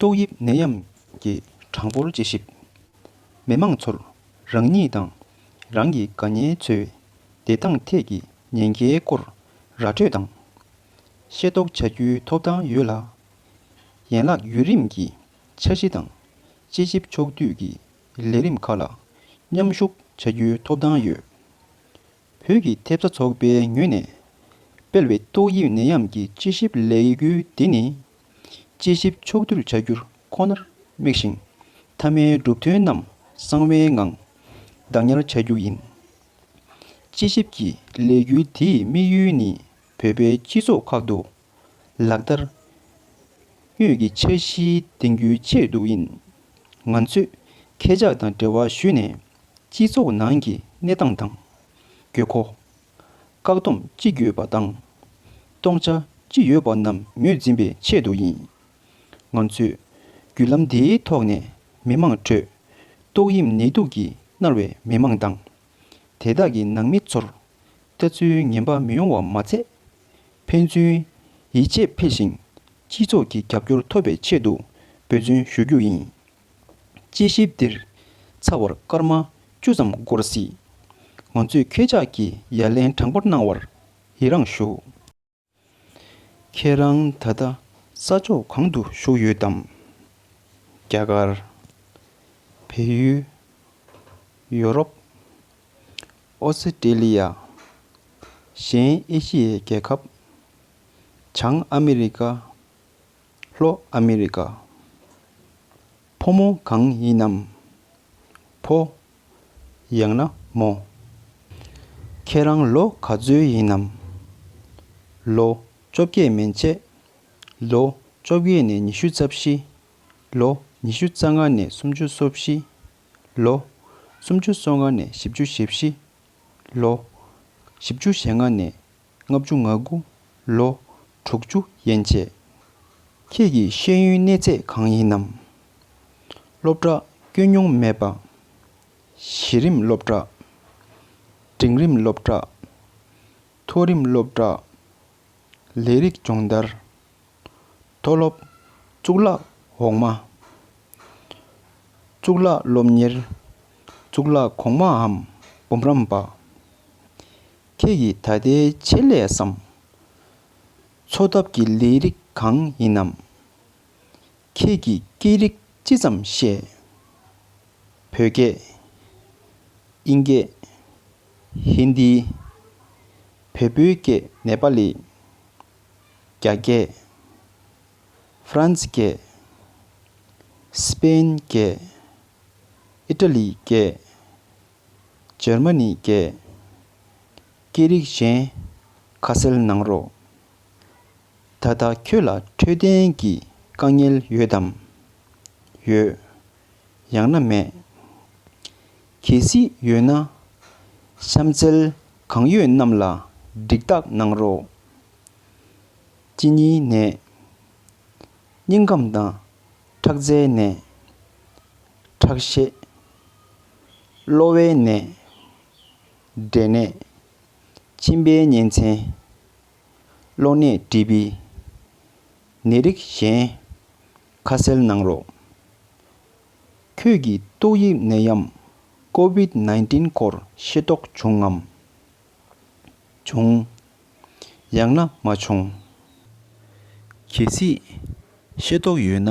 ཏོག་དབྱིབས་ནད་ཡམས་ཀྱི་གྲངས་འབོར་དཔྱད་ཞིབ། མི་དམངས་ཚོར་རང་ཉིད་དང་རང་གི་དགའ་ཉེ་འཚོའི་བདེ་ཐང་ཐད་ཀྱི་ཉེན་ཁའི་སྐོར་ར་སྤྲོད་དང། ཤེས་རྟོགས་བྱ་རྒྱུའི་ཐོབ་ཐང་ཡོད་ལ། ཡན་ལག་བརྒྱུད་རིམ་གྱི་འཆར་གཞི་དང་དཔྱད་ཞིབ་ཕྱོགས་བསྡུས་ཀྱི་ལས་རིམ་ཁག་ལ་མཉམ་ཞུགས་བྱ་རྒྱུའི་ཐོབ་ཐང་ཡོད། བོད་ཀྱི་ཐེབས་རྩ་ཚོགས་པའི་ངོས་ནས་སྤེལ་བའི་ཏོག་དབྱིབས་ནད་ཡམས་ཀྱི་དཔྱད་ཞིབ་ལས་འགུལ་འདི་ནི། དཔྱད་ཞིབ་ཕྱོགས་བསྡུས་བྱ་རྒྱུར་ཁོ་ནར་དམིགས་ཤིང། མཐའ་མའི་གྲུབ་དོན་རྣམས་གསང་བའི་ངང་བདག་ཉར་བྱ་རྒྱུ་ཡིན། དཔྱད་ཞིབ་ཀྱི་ལས་འགུལ་དེའི་དམིགས་ཡུལ་ནི་བོད་པའི་སྤྱི་ཚོགས་ཁག་ཏུ་ལག་བསྟར། གཡོད་ཀྱི་འཆར་གཞི་འདིང་རྒྱུའི་ཆེད་དུ་ཡིན། ང་ཚོས་ཁྱེད་ཅག་དང་འབྲེལ་བ་ཞུས་ནས་སྤྱི་ཚོགས་ནང་གི་གནས་སྟངས་དང། དགོས་མཁོ། བཀག་སྡོམ་ཅི་ཡོད་པ་དང། སྟོང་ཆ་ཅི་ཡོད་པ་རྣམས་ངོས་འཛིན་པའི་ཆེད་དུ་ཡིན། ང་ཚོས་བརྒྱུད་ལམ་འདིའི་ཐོག་ནས་མི་མང་ཁྲོད་ཏོག་དབྱིབས་ནད་དུག་གིས་མནར་བའི་མི་མང་དང། དེ་དག་གི་ནང་མི་ཚོར་ལྟ་ཚུལ་ངན་པ་མི་ཡོང་བ་མ་ཚད། ཕན་ཚུན་ཡིད་ཆེས་འཕེལ་ཞིང་སྤྱི་ཚོགས་ཀྱི་རྒྱབ་སྐྱོར་ཐོབ་པའི་ཆེད་དུ་འབོད་བརྩོན་ཞུ་རྒྱུ་ཡིན། དཔྱད་ཞིབ་འདིར་ཚ་བར་སྐར་མ་བཅུ་ཙམ་འགོར་སྲིད། ང་ཚོས་ཁྱེད་ཅག་གི་ཡ་ལན་དྲང་པོར་གནང་བར་ཡི་རངས་ཞུ། ཁྱེད་རང་ད་ལྟ་ས་ཕྱོགས་གང་དུ་བཞུགས་ཡོད་དམ། རྒྱ་གར། བལ་ཡུལ། ཡོ་རོབ། ཨོ་སི་ཀྲེ་ལི་ཡ། གཞན་ཨེ་ཤི་ཡའི་རྒྱལ་ཁབ། བྱང་ཨ་མི་རི་ཀ། ལྷོ་ཨ་མི་རི་ཀ། ཕོ་མོ་གང་ཡིན་ནམ། ཕོ། ཡང་ན་མོ། ཁྱེད་རང་ལོ་ག་ཚོད་ཡིན་ནམ། ལོ་བཅོ་བརྒྱད་མན་ཆད། ལོ་བཅོ་བརྒྱད་ནས་ཉི་ཤུ་རྩ་བཞི། ལོ་ཉི་ཤུ་རྩ་ལྔ་ནས་སུམ་ཅུ་སོ་བཞི། ལོ་སུམ་ཅུ་སོ་ལྔ་ནས་བཞི་བཅུ་ཞེ་བཞི། ལོ་བཞི་བཅུ་ཞེ་ལྔ་ནས་ལྔ་བཅུ་ང་དགུ་ལོ་དྲུག་ཅུ་ཡན་ཆད། ཁྱེད་ཀྱི་ཤེས་ཡོན་གནས་ཚད་གང་ཡིན་ནམ། སློབ་གྲྭ་བསྐྱོད་མྱོང་མེད་པ། གཞི་རིམ་སློབ་གྲྭ། འབྲིང་རིམ་སློབ་གྲྭ། མཐོ་རིམ་སློབ་གྲྭ། ལས་རིགས་སྦྱོང་བརྡར། མཐོ་སློབ། གཙུག་ལག་འོག་མ། གཙུག་ལག་སློབ་གཉེར། གཙུག་ལག་གོང་མའམ་འབུམ་རམས་པ། ཁྱེད་ཀྱིས་ད་ལྟའི་ཆེད་ལས་སམ། འཚོ་ཐབས་ཀྱི་ལས་རིགས་གང་ཡིན་ནམ། ཁྱེད་ཀྱིས་སྐད་རིགས་ཅི་ཙམ་ཤེས། བོད་སྐད། དབྱིན་སྐད། ཧིན་དི། བལ་པོའི་སྐད་ནེ་པ་ལི། རྒྱ་སྐད། ཧྥ་རན་སི་སྐད། སི་པེན་སྐད། ཨི་ཀྲ་ལི་སྐད། ཇར་མ་ནི་བརྒྱད། སྐད་རིགས་གཞན། ཁ་གསལ་གནང་རོགས། ད་ལྟ་ཁྱོད་ལ་འཕྲོད་བསྟེན་གྱི་དཀའ་ངལ་ཡོད་དམ། ཡོད། ཡང་ན་མེད། གལ་སྲིད་ཡོད་ན། གཤམ་གསལ་གང་ཡོད་རྣམས་ལ་འགྲིག་རྟགས་གནང་རོགས། གཅིན་སྙི་ནད། སྙིང་ཁམས་དང་ཁྲག་རྩའི་ནད། ཁྲག་ཤེད། གློ་བའི་ནད། འབྲས་ནད། མཆིན་པའི་གཉན་ཚན། གློ་ནད་དྲི་བི། ནད་རིགས་གཞན། ཁ་ཟས་ནང་རོ། ཁྱོད་ཀྱིས་ཏོག་དབྱིབས་ནད་ཡམས COVID བཅུ་བདུན་སྐོར་ཤེས་རྟོགས་བྱུང་ངམ། བྱུང། ཡང་ན་མ་བྱུང། གལ་སྲིད་ཤེས་རྟོགས་ཡོད་ན།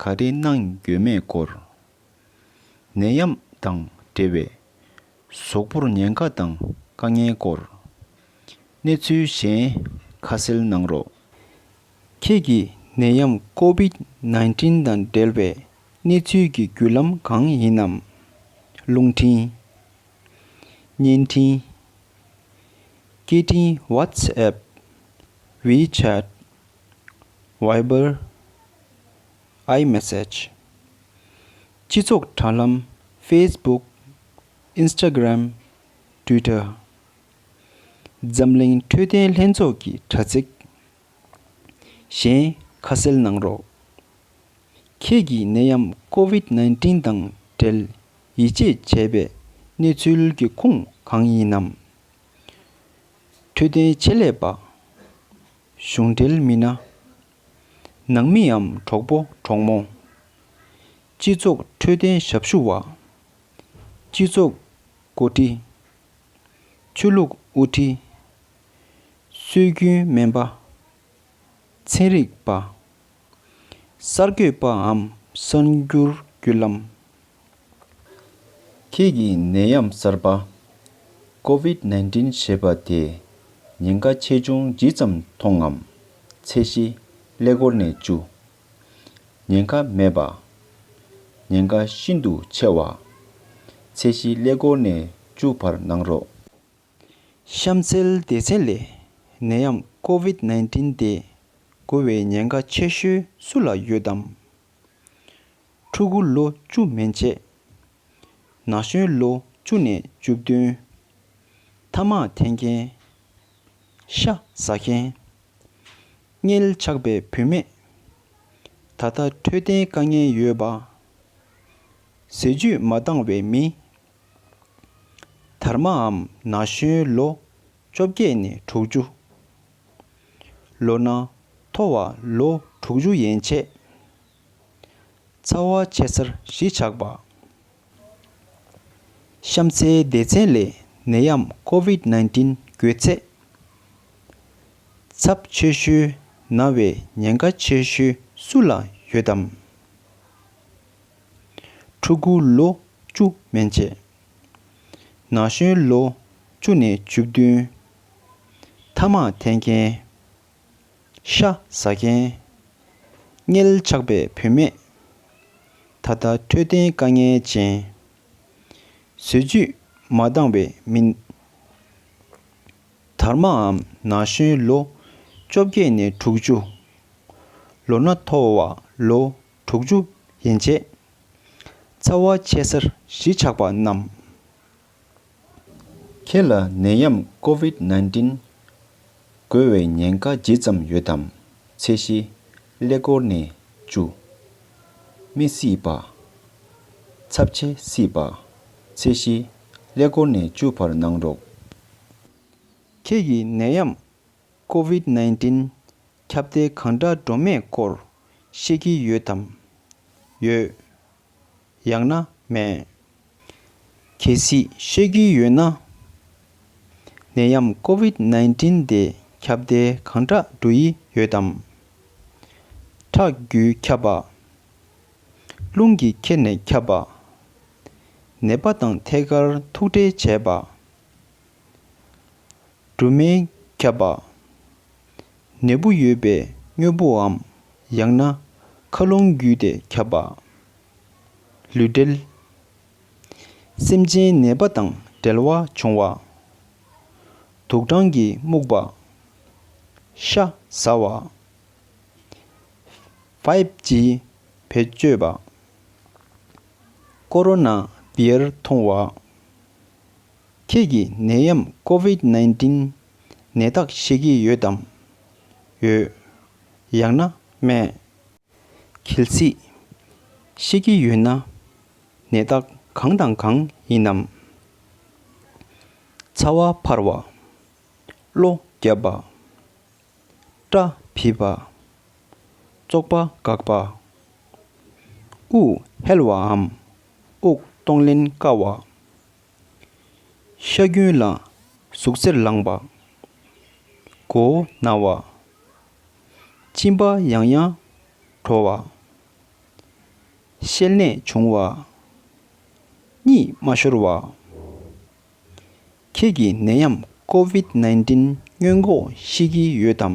ག་རེ་གནང་ཡོད་མེད་སྐོར། ནད་ཡམས་དང་འབྲེལ་བའི་ཟོག་པོར་ཉེན་ཁ་དང་དཀའ་ངལ་སྐོར། གནས་ཚུལ་གཞན་ཁ་གསལ་གནང་རོགས། ཁྱེད་ཀྱིས་ནད་ཡམས COVID nineteen དང་འབྲེལ་བའི་གནས་ཚུལ་གྱི་བརྒྱུད་ལམ་གང་ཡིན་ནམ། རླུང་འཕྲིན། བརྙན་འཕྲིན། སྐད་འཕྲིན WhatsApp། WeChat། Viber iMessage སྤྱི་ཚོགས་དྲ་ལམ Facebook Instagram Twitter འཛམ་གླིང་འཕྲོད་བསྟེན་ལྷན་ཚོགས་ཀྱི་དྲ་ཚིགས། གཞན་ཁ་གསལ་གནང་རོགས། ཁྱེད་ཀྱིས་ནད་ཡམས COVID བཅུ་བདུན་དང་འབྲེལ་ཡིད་ཆེས་བྱས་པའི་གནས་ཚུལ་གྱི་ཁུངས་གང་ཡིན་ནམ། འཕྲོད་བསྟེན་ཆེད་ལས་པ། གཞུང་འབྲེལ་མི་སྣ། ནང་མིའམ་གྲོགས་པོ་གྲོགས་མོ། སྤྱི་ཚོགས་འཕྲོད་བསྟེན་ཞབས་ཞུ་བ། སྤྱི་ཚོགས་མགོ་ཁྲིད། ཆོས་ལུགས་དབུ་ཁྲིད། སྲོལ་རྒྱུན་སྨན་པ། ཚན་རིག་པ། གསར་འགོད་པའམ་གསར་འགྱུར་བརྒྱུད་ལམ། ཁྱེད་ཀྱིས་ནད་ཡམས་གསར་པ། Covid nineteen། ཞེས་པ་དེ་ཉེན་ཁ་ཆེ་ཆུང་ཇི་ཙམ་མཐོང་ངམ། ཚད་གཞི་ཀླད་ཀོར་ནས་བཅུ། ཉེན་ཁ་མེད་པ། ཉེན་ཁ་ཤིན་ཏུ་ཆེ་བ། ཚད་གཞི་ཀླད་ཀོར་ནས་བཅུ་བར་གནང་རོགས། གཤམ་གསལ་སྡེ་ཚན་ལས་ནད་ཡམས Covid nineteen དེ་འགོ་བའི་ཉེན་ཁ་ཆེ་ཤོས་སུ་ལ་ཡོད་དམ། ཕྲུ་གུ་ལོ་བཅུ་མན་ཆད། ན་གཞོན་ལོ་བཅུ་ནས་བཅུ་བདུན། མཐའ་དམག་འཐེན་མཁན། ཤ་ཟ་མཁན། མངལ་ཆགས་པའི་བུད་མེད། ད་ལྟ་འཕྲོད་བསྟེན་དཀའ་ངལ་ཡོད་པ། ཟས་བཅུད་མ་འདང་བའི་མི། དར་མའམ་ན་གཞོན་ལོ་བཅོ་བརྒྱད་ནས་དྲུག་ཅུ། ལོ་ན་མཐོ་བ་ལོ་དྲུག་ཅུ་ཡན་ཆད། ཚ་བ་ཆེ་སར་གཞིས་ཆགས་པ། གཤམ་གསལ་སྡེ་ཚན་ལས་ནད་ཡམས COVID བཅུ་བཅུ་འགོས་ཚད། ཚབས་ཆེ་ཤོས་ན་བའི་ཉེན་ཁ་ཆེ་ཤོས་སུ་ལ་ཡོད་དམ། ཕྲུ་གུ་ལོ་བཅུ་མན་ཆད། ན་གཞོན་ལོ་བཅུ་ནས་བཅུ་བདུན། ཐ་མག་འཐེན་མཁན། ཤ་ཟ་མཁན། མངལ་ཆགས་པའི་བུད་མེད། ད་ལྟ་འཕྲོད་བསྟེན་དཀའ་ངལ་ཅན། ཟོལ་རྒྱུད་མ་འདང་བའི་མི། དར་མའམ་ན་གཞོན་ལོ་བཅོ་བརྒྱད་ནས་དྲུག་ཅུ། ལོ་ན་མཐོ་བ་ལོ་དྲུག་ཅུ་ཡན་ཆད། ཚ་བ་ཆེ་སར་གཞིས་ཆགས་པ་རྣམས། ཁྱེད་ལ་ནད་ཡམས COVID nineteen འགོས་བའི་ཉེན་ཁ་ཇི་ཙམ་ཡོད་དམ་ཚད་གཞི་ཀླད་ཀོར་ནས་བཅུ། མི་སྲིད་པ། ཚབས་ཆེ་སྲིད་པ། ཚད་གཞི་ཀླད་ཀོར་ནས་བཅུ་བར་གནང་རོགས། ཁྱེད་ཀྱིས་ནད་ཡམས COVID nineteen ཁྱབ་གདལ་གང་འདྲ་འགྲོ་མེད་སྐོར་ཤེས་ཀྱི་ཡོད་དམ། ཡོད། ཡང་ན་མེད། གལ་སྲིད་ཤེས་རྒྱུ་ཡོད་ན། ནད་ཡམས་ཀོ་བིད་བརྙན་ཏྲིན་དེ་ཁྱབ་གདལ་གང་འདྲ་འགྲོ་ཡི་ཡོད་དམ། ཁྲག་རྒྱུས་ཁྱབ་པ། རླུང་གིས་ཁྱེར་ནས་ཁྱབ་པ། ནད་པ་དང་ཐད་ཀར་ཐུག་འཕྲད་བྱས་པ། སྦྲུམ་མས་ཁྱབ་པ། ནད་འབུ་ཡོད་པའི་དངོས་པོའམ་ཡང་ན་མཁའ་རླུང་བརྒྱུད་དེ་ཁྱབ་པ། ལུས་འབྲེལ། སེམས་ཅན་ནད་པ་དང་འབྲེལ་བ་བྱུང་བ། དུག་སྦྲང་གིས་རྨུགས་པ། ཤ་ཟ་བ། Five G བེད་སྤྱོད་པ། ཀོ་རོ་ན་བེིར་འཐུང་བ། ཁྱེད་ཀྱིས་ནད་ཡམས COVID nineteen ནད་རྟགས་ཤེས་ཀྱི་ཡོད་དམ། ཡོད། ཡང་ན་མེད། གལ་སྲིད། ཤེས་ཀྱི་ཡོད་ན། ནད་རྟགས་གང་དང་གང་ཡིན་ནམ། ཚ་བ་འཕར་བ། གློ་རྒྱབ་པ། སྐྲ་བིད་པ། ཙོག་པ་འགག་པ། དབུགས་ཧལ་བའམ་དབུགས་གཏོང་ལེན་དཀའ་བ། ཤ་རྒྱུན་ལ་ཟུག་གཟེར་ལངས་པ། མགོ་བོ་ན་བ། གཅིན་པ་ཡང་ཡང་དྲོ་བ། ཤེལ་ནད་བྱུང་བ། གཉིད་མ་ཤོར་བ། ཁྱེད་ཀྱིས་ནད་ཡམས་ཀོ་བིད་བརྙན་འགོག་ཤེས་ཀྱི་ཡོད་དམ།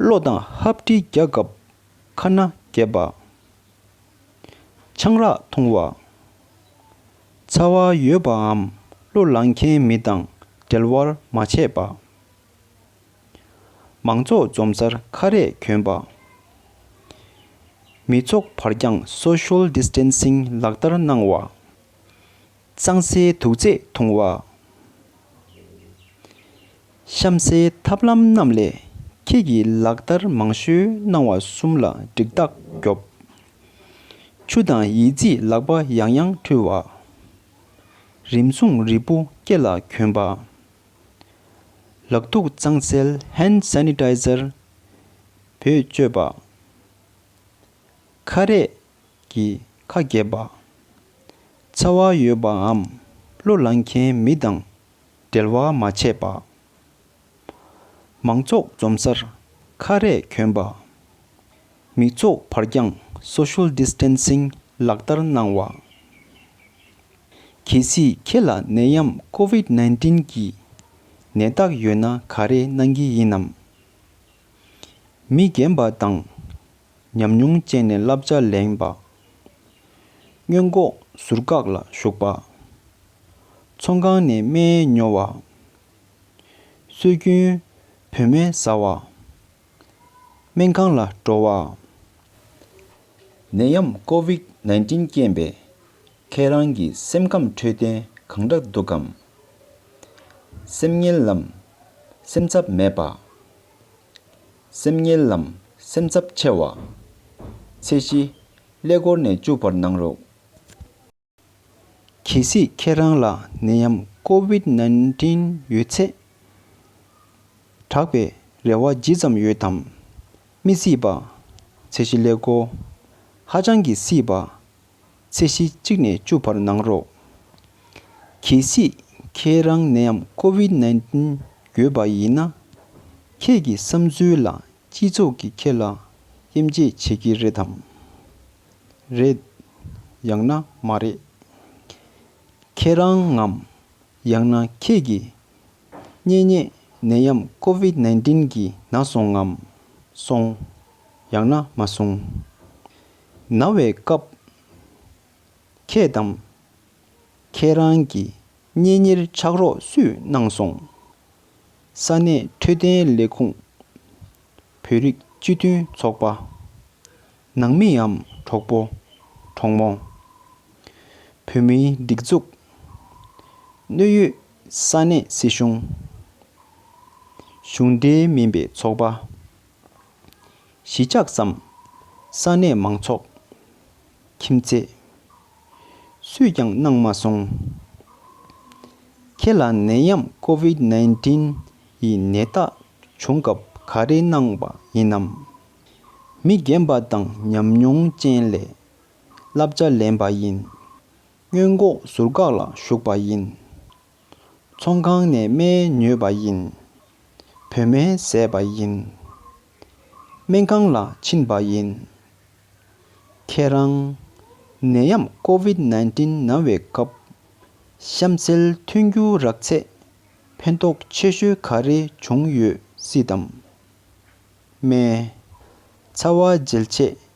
བློ་དང་ཧབ་དྲིལ་རྒྱག་སྐབས་ཁ་སྣ་བརྒྱབ་པ། ཆང་རག་འཐུང་བ། ཚ་བ་ཡོད་པའམ་གླུ་བླངས་མཁན་མི་དང་འབྲེལ་བར་མ་བྱས་པ། མང་ཚོགས་འཛོམས་སར་ཁ་རས་གྱོན་པ། མི་ཚོགས་བར་འགྱངས Social Distancing ལག་བསྟར་གནང་བ། གཙང་སའི་དུག་རྫས་འཐུང་བ། གཤམ་གསལ་ཐབས་ལམ་རྣམས་ལས་ཁྱེད་ཀྱིས་ལག་བསྟར་མང་ཤོས་གནང་བ་གསུམ་ལ་འགྲིག་རྟགས་རྒྱོབ། ཆུ་དང་ཡིད་རྩིས་ལག་པ་ཡང་ཡང་འཁྲུལ་བ། རིམས་སྲུང་རིལ་བུ་སྐེ་ལ་གྱོན་པ། ལག་ཐུག་གཙང་སེལ Hand Sanitizer བོས་སྤྱོད་པ། ཁ་རས་གྱིས་ཁ་གྱེས་པ། ཚ་བ་ཡོད་པའམ་གླུ་བླངས་མཁན་མི་དང་འབྲེལ་བ་མ་བྱས་པ། མང་ཚོགས་འཛོམས་སར་ཁ་རས་གྱོན་པ། མི་ཚོགས་བར་འགྱངས Social Distancing ལག་བསྟར་གནང་བ། གལ་སྲིད་ཁྱེད་ལ་ནད་ཡམས Covid བརྙན་གྱི་ནད་རྟགས་ཡོད་ན་ག་རེ་གནང་གི་ཡིན་ནམ། མི་རྒན་པ་དང། ཉམས་མྱོང་སྤྱད་ནས་བསླབ་བྱ་ལེན་པ། སྨྱོན་འགོག་ཟུར་བཀག་ལ་ཞུགས་པ། ཚོང་ཁང་ནས་སྨན་ཉོ་བ། སྲོལ་རྒྱུན་བོད་སྨན་བཟའ་བ། སྨན་ཁང་ལ་འགྲོ་བ། ནད་ཡམས་ཀོ་བིག་ནཱིན་ཏིན་རྐྱེན་པས་ཁྱེད་རང་གི་སེམས་ཁམས་འཕྲོད་བསྟེན་གང་འདྲ་འདུག་གམ། སེམས་ངལ་ལམ་སེམས་འཚབ་མེད་པ། སེམས་ཉེ་ལམ་སེམས་འཚབ་ཆེ་བ། ཚེས་བཞི། ཀླད་ཀོར་ནས་བཅུག་པར་གནང་རོགས། གལ་སྲིད་ཁྱེད་རང་ལ་ནད་ཡམས COVID nineteen ཡོད་ཚེ། དྲག་པའི་རེ་བ་ཇི་ཙམ་ཡོད་དམ། མི་སྲིད་པ། ཚེས་བཞི་ཀླད་ཀོར་ཧ་ཅང་གི་སྲིད་པ་ཚད་གཞི་གཅིག་ནས་བཅུ་བར་གནང་རོགས། གལ་སྲིད་ཁྱེད་རང་ནད Covid nineteen ཡོད་པ་ཡིན་ན། ཁྱེད་ཀྱི་བསམ་ཚུལ་ལ་སྤྱི་ཚོགས་ཀྱིས་ཁྱེད་ལ་དབྱེ་འབྱེད་བྱེད་ཀྱི་རེད་དམ། རེད། ཡང་ན་མ་རེད། ཁྱེད་རང་ངམ། ཡང་ན་ཁྱེད་ཀྱི་གཉེན་ཉེ་ནད་ཡམས Covid nineteen གྱིས་ན་སོང་ངམ། སོང། ཡང་ན་མ་སོང། ན་བའི་སྐབས། ཁྱེད་དང། ཁྱེད་རང་གི་གཉེན་ཉེར་ཕྱག་རོགས་སུས་གནང་སོང། ས་གནས་འཕྲོད་བསྟེན་ལས་ཁུངས། བོད་རིགས་སྤྱི་མཐུན་ཚོགས་པ། ནང་མིའམ་གྲོགས་པོ། གྲོགས་མོ། བོད་མིའི་སྒྲིག་འཛུགས། གནོད་ཡོད་ས་གནས་སྲིད་གཞུང། གཞུང་འབྲེལ་མིན་པའི་ཚོགས་པ། གཞིས་ཆགས་སམ། ས་གནས་མང་ཚོགས། ཁྱིམ་མཚེས། སུས་ཀྱང་གནང་མ་སོང། ཁྱེད་ལ་ནད་ཡམས COVID nineteen ཡི་ནད་རྟགས་བྱུང་སྐབས་ག་རེ་གནང་བ་ཡིན་ནམ། མི་རྒན་པ་དང་ཉམས་མྱོང་ཅན་ལས་བསླབ་བྱ་ལེན་པ་ཡིན། སྔོན་འགོག་ཟུར་བཀག་ལ་ཞུགས་པ་ཡིན། ཚོང་ཁང་ནས་སྨན་ཉོས་པ་ཡིན། བོད་སྨན་བཟས་པ་ཡིན། སྨན་ཁང་ལ་ཕྱིན་པ་ཡིན། ཁྱེད་རང། ནད་ཡམས COVID nineteen ན་བའི་སྐབས། གཤམ་གསལ་མཐུན་འགྱུར་རགས་ཚད་ཕན་ཐོགས་ཆེ་ཤོས་ག་རེ་བྱུང་ཡོད་སྲིད་དམ། སྨན། ཚ་བ་འཇལ་ཆེད